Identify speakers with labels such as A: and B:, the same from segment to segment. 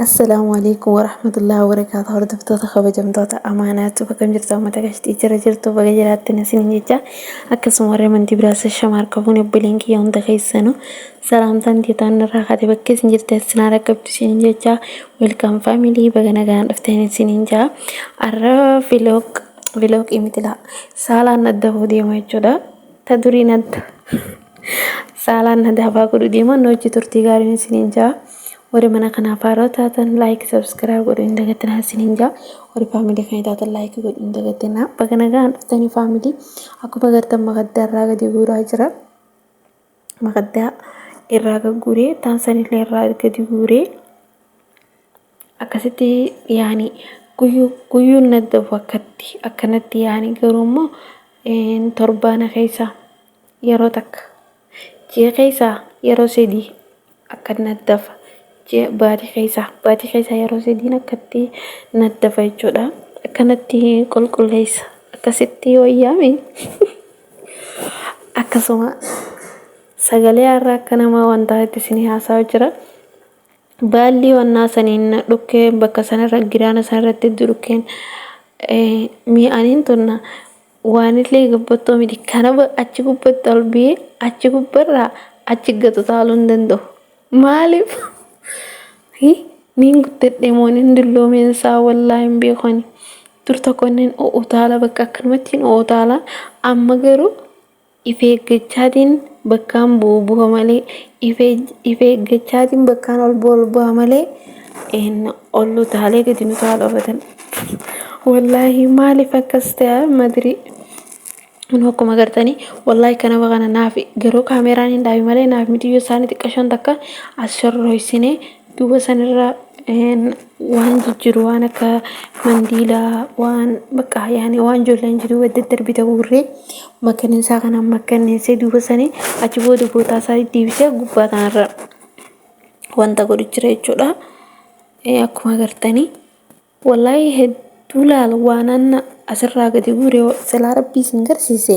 A: Assalaamu alaikum warahmatullahi wabarakaatu hordoftoota kabajamtoota amaanaatu bakka hin jirtu uummata gashtii jira jirtu baga jiraatte nasin jecha akkasuma warri amantii biraas shamaar qabuun obboleen kiyya hunda keessanu salaamtaan teetaan irraa kaate bakka isin jirte sinaa dhaqqabdu isin jecha welkaam faamilii baga nagaan dhufteen isin jaa arra viloog viloog imitilaa saalaan adda hoo deema jechuudha ta duriin adda Saalaan hadaafaa godhu deeman hojii turtii gaariin isiniin jaa. Warri mana kanaaf haaroo taatan laayik sabskiraayib godhu hin dagatinaa isiniin jaa. Warri faamilii kan taatan laayik godhu hin dagatinaa. Baga nagaan dhuftanii faamilii akkuma agartan makaddaa irraa gadi guuraa jira. Makaddaa irraa gagguuree taansanillee irraa gadi guuree akkasitti yaani guyyuu guyyuun naddabu akkatti akkanatti yaani garuu immoo torbaan keessaa. yeroo takka ji'a keessaa yeroo sadii akka naddafa ji'a baatii keessaa baatii keessaa yeroo sadiin akkatti naddafa jechuudha akkanatti qulqulleessa akkasitti wayyaame akkasuma sagalee har'a akka namaa wantaa itti isin haasaa jira baallii wannaa saniin dhukkee bakka sanarra giraana sanarratti itti dhukkeen mi'aaniin tunna Waanillee gabbattoo miti. Kanaba achi gubbatti ol biyee achi gubbarraa achi gad utaaluu hin danda'u. Maaliif? Niin guddadhe moo niin dulloomeen isaa wallaa hin beekoni. Dur tokko niin utaala bakka akkanumatti hin utaala. Amma garuu If eeggachaatiin bakkaan bu'u bu'a malee if eeggachaatiin bakkaan ol bu'a ol bu'a malee ol utaalee gadi nu taa'u dhabatan. Wallaahi maaliif akkas ta'a madirii? Kun akkuma gartanii wallaahi kana kana naaf garuu kaameraan hin dhaabi malee naaf mitiyyuu isaanii xiqqashoon takka as shorroysine Duuba sanirra waan jijjiru waan akka mandiilaa waan bakka yaani waan ijoolleen jiruu wal daddarbita guurree makkaneessaa kana makkaneessee duuba sanii achi booda bootaa isaa deebisee gubbaa tanarra wanta godhu jira jechuudha. Akkuma agartanii wallahi hedduu laala waan anna asirraa gadi guure silaa rabbii isin garsiise.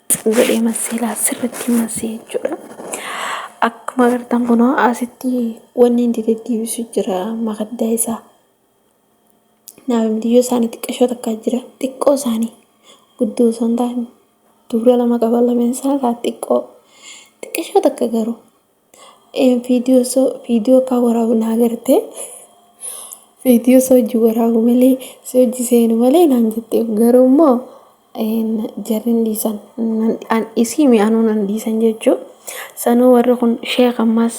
A: godhee massee laa sirritti massee jechuudha. Akkuma agartan kunoo asitti wanni inni deddeebisu jira makaddaa isaa. Naamtiyyoo isaanii xiqqashoo takkaa jira xiqqoo isaanii guddoo osoo hin taane duura lama qaba lameen isaa laa xiqqoo xiqqashoo takka garuu Viidiyoo osoo viidiyoo kaa waraabu naa gartee viidiyoo osoo hojii waraabu malee si hojii seenu malee naan jettee garuu immoo jarri hin dhiisan an isii mi'aanuu nan dhiisan jechuu sanuu warri kun sheek ammas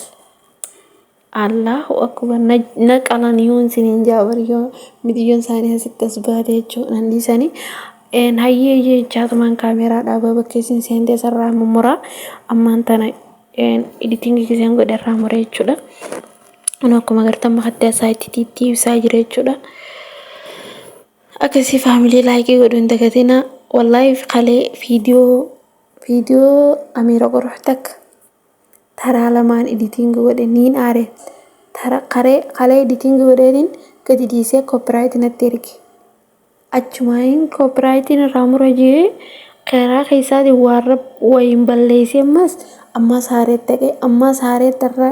A: Allahu akbar na qalan yoon siniin jaabar yoo midiyyoon isaanii asitti as baate jechuu nan dhiisanii een hayyee jee jaatumaan kaameeraa dhaabaa bakkeessiin seentee sarraa mummuraa ammaan tana editing kiseen godhe irraa mure jechuudha. Anu akkuma agartan makatti asaa itti tiittii ibsaa jira jechuudha. Akkasii faamilii laayikii godhu hin dagatina. Wallaahi kalee viidiyoo viidiyoo Amiira Qoruuf takka taraa lamaan editing godhe niin aare. Tara karee kalee editing godheetiin gadi dhiisee copyright natti erge. Achumaayeen koopiraayitiin irraa mura jee keeraa keessaatiin waarra wayiin balleessee ammaas ammaas haareetti dhaqee ammaas haareetti irra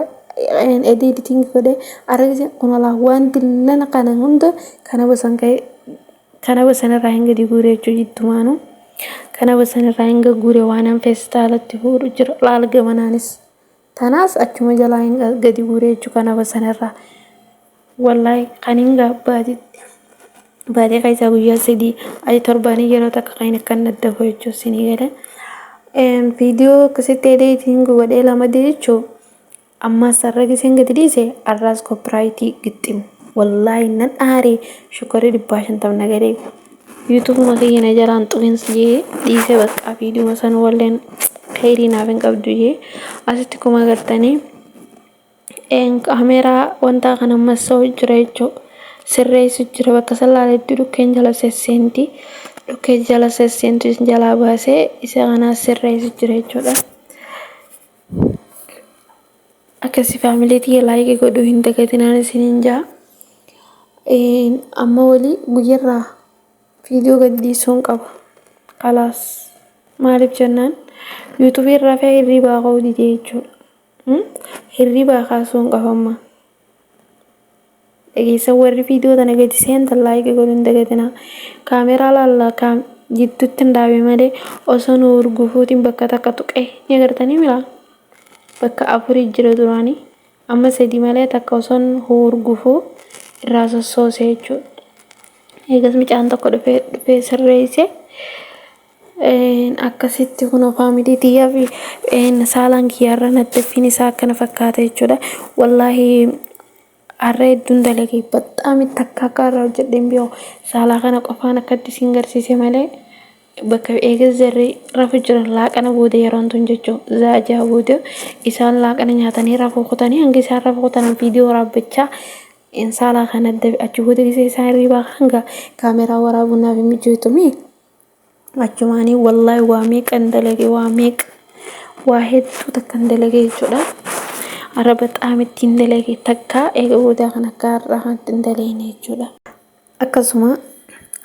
A: edii editing godhee argise kunalaa wanti lana kana hunda kana basan ka'ee kana basan irraa hin gadi guuree jechuu jiddumaanuu kana basan irraa hin gaguure waanan feestaalatti fuudhu jira laal gamanaanis. Tanaas achuma jalaa hin gadi guuree jechuu kanaba sanarraa. Wallahi kan hin gaabbaatitti baatee keessaa guyyaa sadii ayi torbaanii yeroo takka kan hin akkan adda koo jechuu sinii galee. Viidiyoo akkasitti edeetiin godhee lama jechuu ammaas har'a giseen gadi dhiise har'aas koopiraayitii gixximu. Wallahi nan aaree shukkarri dhibbaa shantam na galee. YouTube makiyya na jalaan xuqins jee dhiisee baqqaa viidiyuma san walleen kheyrii naaf hin qabdu jee asitti kuma agartanii kameeraa wantaa kan ammas sa'u jira jechuu sirreessu jira bakka san laaletti dhukkeen jala sesseenti dhukkee jala sesseentu isin jalaa baasee isa kanaa sirreessu jira jechuudha. Akkasi family tiyya like godhuu hin dagatinaan isiniin jaa. Een, amma wali guyyarraa viidiyoo gad dhiisuun qaba. Kalaas. Maaliif jennaan yuutubii irraa fee hirriibaa ka'uu didee jechuudha. Mm? Hirriibaa kaasuun qaba amma. dhageessan warri viidiyoo tana gadi seentan laayika godhuu hin dagatinaa kaameraa laalla kaam jidduutti hin dhaabe malee osoo nu urgufuutiin bakka takka tuqee ni agartanii miraa bakka afurii jira duraanii amma sadii malee takka osoo urgufuu irraa sossoosee jechuudha eegas micaan tokko dhufee dhufee sirreessee Akkasitti kunoo faamilii tiyyaa fi saalaan kiyyaarra naddaffiin isaa akkana fakkaata jechuudha. Wallaahi har'a hedduun dalage baxxaami takka akka har'a hojjedhe hin beeku. Saalaa kana qofaan akkatti isin garsiise malee bakka eegas jarri rafu jiran laaqana booda yeroon tun jechuudha. Zaa jaha booda isaan laaqana nyaatanii rafuu kutanii hanga isaan rafuu kutanan viidiyoo waraabbachaa saalaa kana adda achi booda gisee isaan hirribaa hanga kaameeraa waraabuun naaf hin mijjootu mii. Achumaanii wallaahi waa meeqan dalage waa meeqa waa hedduu takkan dalage jechuudha. Araba xaamittiin dalage takka eega boodaa kan akka har'aa kanatti hin daleene jechuudha. Akkasuma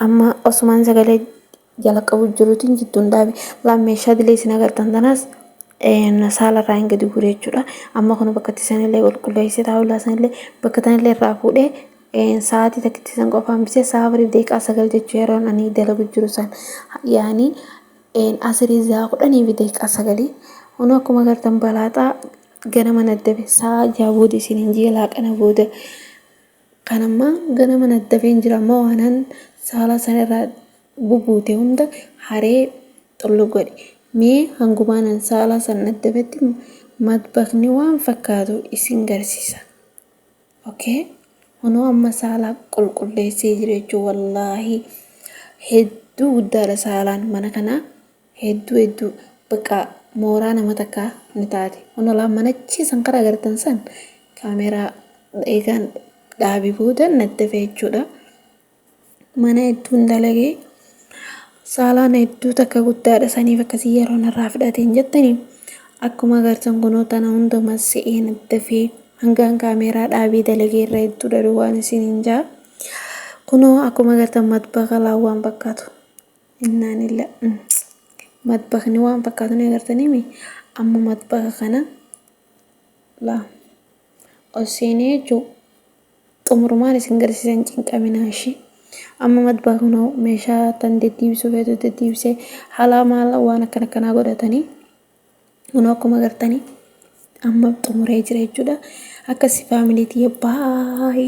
A: amma osumaan sagalee jalaqabu jiruutiin jidduun dhaabe laan meeshaa dilee isin agartan tanaas saala irraa hin gadi guure jechuudha. Amma kun bakka itti sanillee qulqulleessee taa'ulaa sanillee bakka tanillee irraa fuudhee Een sa'aatii takkitti san qofa hambisee sa'a afuriif daqiiqaa sagal jechuun yeroon ani dalagu jiru san yaani een asirii sa'a kudhanii fi daqiiqaa sagalii hunuu akkuma agartan balaaxaa ganama naddabe sa'a jaha booda isin hin ji'a laaqana booda kan ammaa ganama naddabee hin jira ammoo waanan saalaa san irraa bubuute hunda haree xullu godhe mee hangumaanan saalaa san naddabetti madbakni waan fakkaatu isin garsiisa. Ok kunoo amma saala qulqulleessee jira jechuun wallaahi hedduu guddaadha saalaan mana kanaa hedduu hedduu bakka mooraa nama takkaa ni taate kunoo laa manachii san karaa agartan san kaameeraa eegaan dhaabii booda natti hafe jechuudha. mana hedduun dalagee saalaan hedduu takka guddaadha saniif akkasii yeroon irraa fudhateen jettanii akkuma agartan kunoo tana hunduma se'een dafee hangaan kaameeraa dhaabee dalagee irra hedduu dhaluu waan isin hin jaa kunoo akkuma agartan matbaka laawwaan fakkaatu innaan illa matbakni waan fakkaatu ni agartaniimi amma matbaka kana laa ol seenee jechuu Xumurumaan isin garsiisa hin cinqaminaa ishii. Amma madbaa kunoo meeshaa tan deddiibisuu feetu deddiibisee halaa maala waan akkan akkanaa godhatanii kunoo akkuma gartanii amma xumuree jira jechuudha. Akkasi faamilii tiyya baay'ee.